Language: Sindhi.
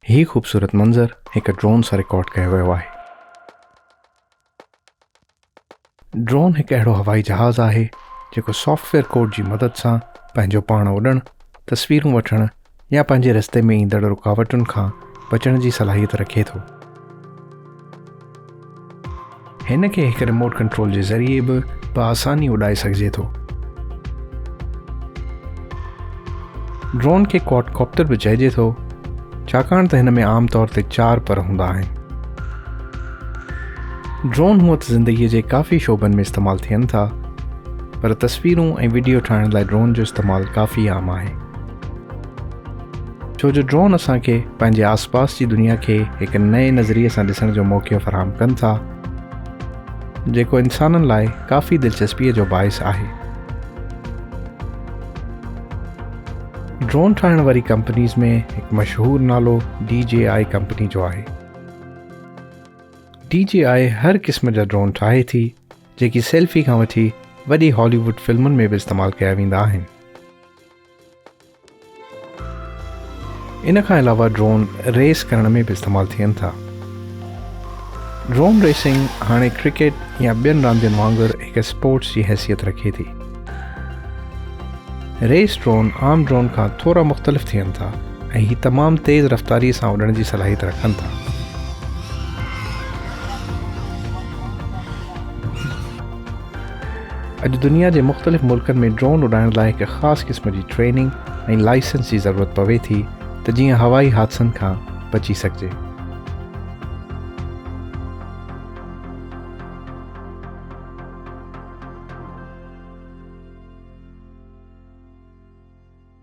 هي خوبصورت منظر هڪ ڊرون سان رڪارڊ ڪيو ويو آهي. ڊرون هڪ اهڙو هوائي جهاز آهي جيڪو سافٽ ويئر ڪوڊ جي مدد سان پنهنجو پاڻ اڏڻ، تصويرون وٺڻ يا پنهنجي رستي ۾ ايندڙ رڪاوٽن کان بچڻ جي صلاحيت رکي ٿو. هن کي هڪ ريموٽ ڪنٽرول جي ذريعي به بآساني اڏائي سگهجي ٿو ڊرون کي ڪواڊ ڪاپٽر به چئجي ٿو ڇاڪاڻ ته هن ۾ عام طور تي چار پر هوندا آهن ڊرون هونء ته زندگيء جي ڪافي شعبن ۾ استعمال ٿين ٿا پر تصويرون ۽ وڊيو ٺاهڻ لاء ڊرون جو استعمال ڪافي عام آهي ڇو جو ڊرون اسان کي پنهنجي آس پاس جي دنيا کي هڪ نئين نظريي سان ڏسڻ جو موقعو فراهم ڪن ٿا جيڪو انسانن لاء ڪافي دلچسپي جو باعث آهي. ڊرون ٺاهڻ واري ڪمپنيز ۾ هڪ مشهور نالو ڊي جي آء ڪمپني جو آهي. ڊي جي آء هر قسم جا ڊرون ٺاهي ٿي جيڪي سيلفي کان وٺي وڏي هالي ووڊ فلمن ۾ به استعمال ڪيا ويندا آهن. ان کان علاوه ڊرون ريس ڪرڻ ۾ به استعمال ٿين ٿا. ڊرون ريسنگ هاڻي ڪرڪيٽ يا ٻين راندين وانگر هڪ اسپورٽس جي حيثيت رکي ٿي. ريس ڊرون عام ڊرون کان ٿورا مختلف ٿين ٿا ۽ هي تمام تيز رفتاري سان اڏڻ جي صلاحيت رکن ٿا. اڄ دنيا جي مختلف ملڪن ۾ ڊرون اڏائڻ لاء هڪ خاص قسم جي ٽريننگ ۽ لائسنس جي ضرورت پوي ٿي ته جيئن هوائي حادثن کان بچي سگهجي.